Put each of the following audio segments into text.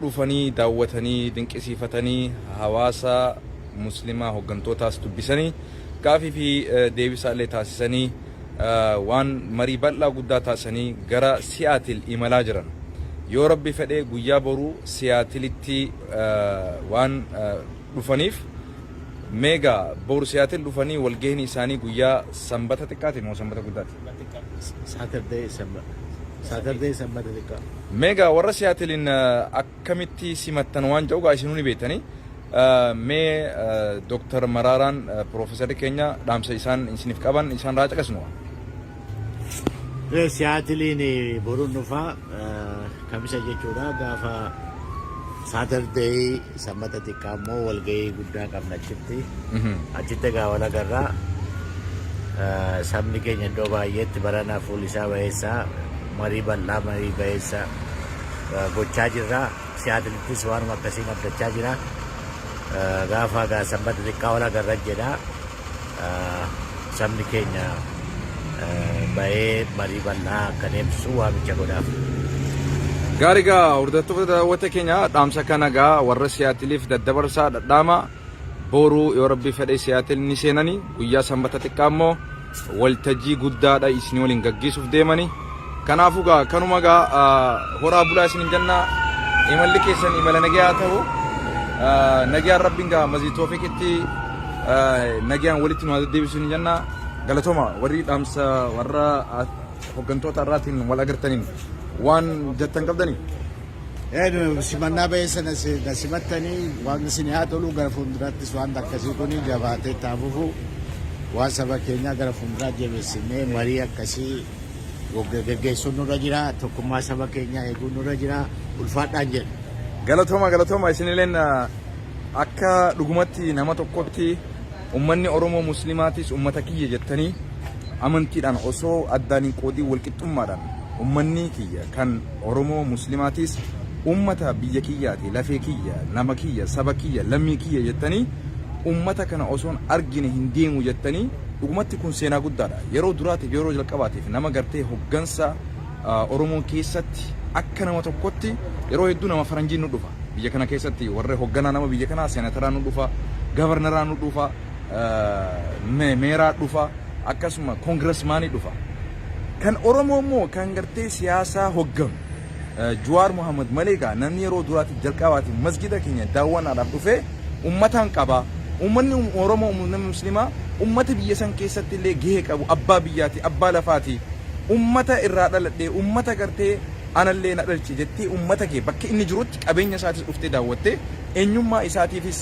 dhufanii daawwatanii dinqisiifatanii hawaasa muslimaa hoggantootaas dubbisanii gaafii fi deebisaa illee taasisanii waan marii bal'aa guddaa taasisanii gara Siyaatil imalaa jiran. Yoo Rabbi fedhe guyyaa boruu Siyaatilitti waan dhufaniif mee egaa boru Siyaatil dhufanii walgahiin isaanii guyyaa Sanbata xiqqaati moo Sanbata guddaati? Saturday Sammata. Saturday Sammata xiqqaa. Meegaa warra siyaatiliin akkamitti simattan waan jedhu gaa isinuu ni beektanii. Mee Dooktar Maraaraan Piroofeesarri keenya dhaamsa isaan isiniif qaban isaan raa caqasnu. Siyaatiliin boruun dhufaa. Kamisa jechuudha gaafa Saturday sammata xiqqaa immoo walgahii guddaa qabna achitti. Achitti egaa wal agarra. Eh, Sabni keenya iddoo baay'eetti barana fuulli isaa bayeessaa marii bal'aa marii bayeessa eh, gochaa jirra. Siyaatalittis waanuma akkasiin abdachaa jira. Eh, Gaafa egaa sammata xiqqaa wal agarra jedha. Sabni keenya bahee marii bal'aa akka deemsisu waamicha godhaaf. Gaarii gaa hordoftoota daawwata keenya dhaamsa kana gaa warra siyaatiliif daddabarsaa dhadhaama booruu yoo rabbii fedhee siyaatil ni seenani guyyaa sanbata xiqqaa immoo waltajjii guddaadha isin waliin gaggeessuuf deemani. Kanaafuu gaa kanuma gaa horaa bulaa isinin jenna imalli keessan imala nagayaa ta'u nagayaan rabbiin gaa mazii toofiqitti nagayaan walitti nu deebisu ni jenna galatoma warri dhaamsa warra hoggantoota irraatiin wal agartaniin waan jettan qabdani. Eeduma simannaa ba'ee sana na simattanii waan isin haa tolu gara fuulduraattis waan akkasii kun jabaatee taafufu waan saba keenyaa gara fuulduraa jabeessinee marii akkasii geggeessuun nurra jira. Tokkummaa saba keenyaa eeguun nurra jira. Ulfaadhaan jedha. Galatooma galatooma isinileen akka dhugumatti nama tokkotti ummanni Oromoo Muslimaatis ummata kiyya jettanii amantiidhaan osoo addaan hin qoodiin walqixxummaadhaan ummanni kiyya kan Oromoo Muslimaatis ummata biyya kiyyaati lafee kiyya nama kiyya saba kiyya lammii kiyya jettanii ummata kana osoon argine hin deemu jettanii Dhugumatti kun seenaa guddaadha. Yeroo duraatiif yeroo jalqabaatiif nama gartee hoggansa Oromoon keessatti akka nama tokkotti yeroo hedduu nama faranjiin nu dhufa. Biyya kana keessatti warra hogganaa nama biyya kanaa seenataraa nu dhufa, gavarnaraa nu dhufa, meeraa dhufa, akkasuma koongirasmaanii dhufa. Kan Oromoo immoo kan gartee siyaasaa hogganu. Juwaar Mohammed malee gaa namni yeroo duraatiif jalqabaatiif masgiida keenya daawwannaadhaaf dhufee ummataan qaba. Ummanni Oromoo ummanni muslimaa ummata biyya san keessatti illee gahee qabu abbaa biyyaati abbaa lafaati. Ummata irraa dhaladhe ummata gartee anallee na dhalche jettee ummata kee bakka inni jirutti qabeenya isaatis dhuftee daawwattee eenyummaa isaatiifis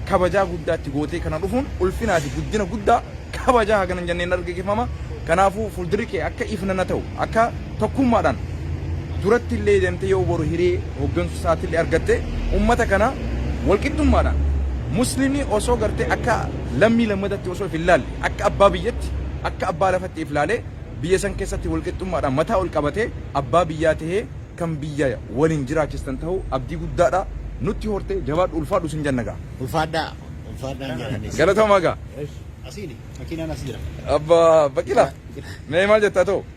kabajaa guddaa itti gootee kana dhufuun ulfinaa fi guddina guddaa kabajaa hagana hin jenneen argagefama. Kanaafuu fuldurri kee akka ifnana ta'u akka Tokkummaadhaan duratti illee demtee yoo boru hiree hoggansu isaati illee argatte ummata kana walqixxummaadhaan muslimni osoo gartee akka lammii lammatatti osoo if hin laalle akka abbaa biyyatti akka abbaa lafatti if laalee biyya san keessatti walqixxummaadhaan mataa ol qabatee abbaa biyyaa tahee kan biyya waliin jiraachistan tahuu abdii guddaadha nutti hortee jabaadhu ulfaadhu sin jenna gaa. Ulfaadhaa ulfaadhaan jedhanis. Galatoomaa gaa. Asiini makiinaan as jira. Abba baqila mee maal jetta too.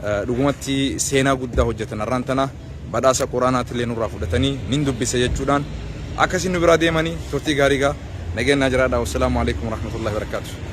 Dhugumatti seenaa guddaa hojjatan har'aan tana badhaasa Qur'aanaatillee nurraa fudhatanii nin dubbisa jechuudhaan akkasiin nu biraa deemani turtii gaarii gaa nageenyaa jiraadhaa wassalaamu aleykum warahmatullaahi wabarakaatuh.